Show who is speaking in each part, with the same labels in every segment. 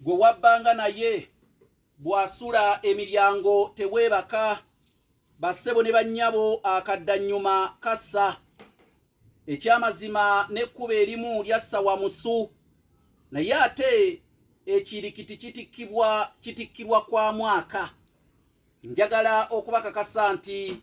Speaker 1: Gwe wabbanga naye bw'asula emiryango teweebaka, bassebo ne bannyabo akaddannyuma kassa. Ekyamazima n'ekkubo erimu lyassa Wamusu, naye ate ekirikiti kitikkibwa kitikkirwa kwa mwaka. Njagala okubakakasa nti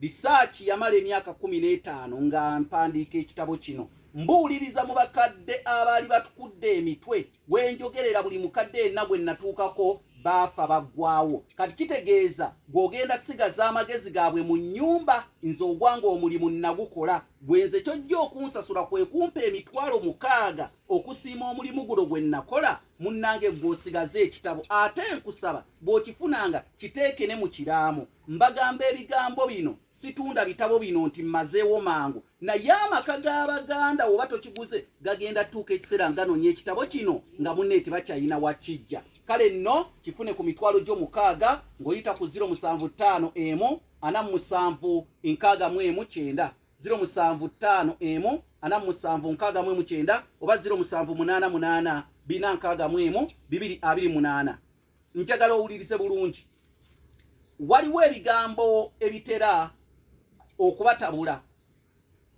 Speaker 1: Bisaaki yamala emyaka kkumi n'etaano nga mpandiika ekitabo kino. Mbuuliriza mu bakadde abaali batukudde emitwe, we njogerera buli mukadde yenna gwe nnatuukako baafa baggwawo. Kati kitegeeza gw'ogenda sigaza amagezi gaabwe mu nnyumba, nze ogwange omulimu nnagukola. Gwe nze ky'ojja okunsasula kwe kumpa emitwalo mukaaga okusiima omulimu guno gwe nnakola, munnange ggwe osigaze ekitabo. Ate nkusaba bw'okifunanga kiteeke ne mu kiraamo. Mbagamba ebigambo bino situunda bitabo bino nti mmazeewo mangu, naye amaka g'Abaganda oba tokiguze gagenda tuuka ekiseera nga nonya ekitabo kino nga munne tebakyalina wakijja. Kale nno kifune ku mitwalo gyo mukaaga ng'oyita ku ziro musanvu ttaano emu ana mu musanvu nkaaga mu emu kyenda ziro musanvu ttaano emu ana mu musanvu nkaaga mu emu kyenda oba ziro musanvu munaana munaana bina nkaaga mu emu bibiri abiri munaana. njagala owulirize bulungi waliwo ebigambo ebitera okubatabula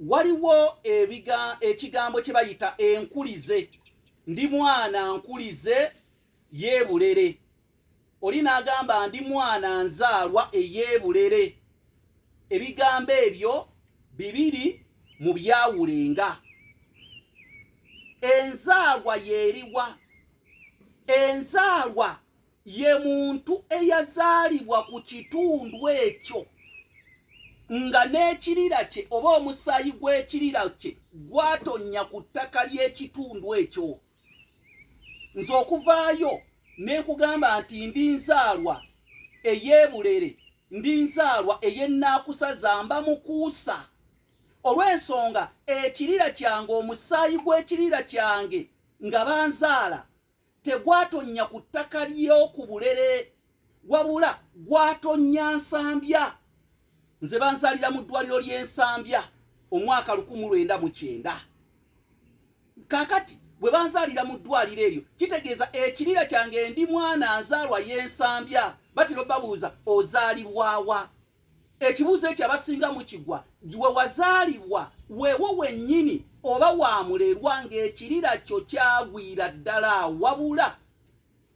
Speaker 1: waliwo ebiga ekigambo kye bayita enkulize ndi mwana nkulize yeebulere oli n'agamba ndi mwana nzaalwa eyeebulere ebigambo ebyo bibiri mu byawulenga enzaalwa yeeriwa enzaalwa ye muntu eyazaalibwa ku kitundu ekyo nga n'ekirira kye oba omusaayi gw'ekirira kye gwatonnya ku ttaka ly'ekitundu ekyo nze okuvaayo ne nkugamba nti ndi nzaalwa ey'ebulere ndi nzaalwa ey'ennaakusa zamba mukuusa olw'ensonga ekirira kyange omusaayi gw'ekirira kyange nga banzaala tegwatonnya ku ttaka ly'oku bulere wabula gwatonnya nsambya nze banzalira mu ddwaliro ly'ensambya omwaka lukumu lwenda mu kyenda kakati bwe banzalira mu ddwaliro eryo kitegeeza ekirira kyange ndi mwana nzaalwa y'ensambya batiro babuuza ozaalibwawa ekibuuzo ekyo abasinga mukigwa we wazaalibwa wewo wennyini oba wamulerwa ng'ekirira kyo kyagwira ddala wabula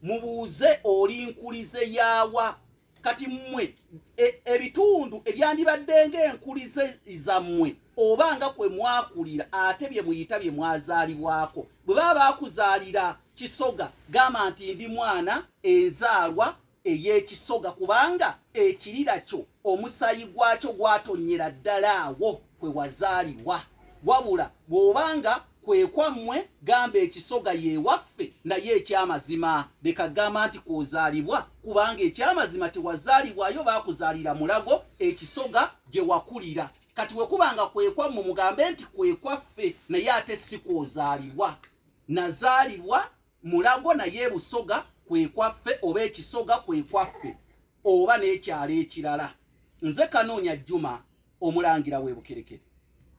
Speaker 1: mubuuze oli nkulize yaawa kati mmwe e, ebitundu ebyandibadde ng'enkulize zammwe oba nga kwe mwakulira ate bye muyita bye mwazaalibwako bwe baba baakuzaalira kisoga gamba nti ndi mwana enzaalwa ey'ekisoga kubanga ekirira kyo omusaayi gwakyo gwatonnyera ddala awo kwe wazaalibwa wabula bw'oba nga kwe kwammwe gamba ekisoga yeewaffe naye eky'amazima leka gamba nti kw'ozaalibwa kubanga eky'amazima tewazaalibwayo baakuzaalira mulago ekisoga gye wakulira kati we kuba nga kwe kwammwe mugambe nti kwe kwaffe naye ate si kw'ozaalibwa nazaalibwa Mulago naye Busoga kwe kwaffe oba ekisoga kwe kwaffe oba n'ekyalo ekirala. Nze Kanoonya Juma, Omulangira w'e Bukerekere.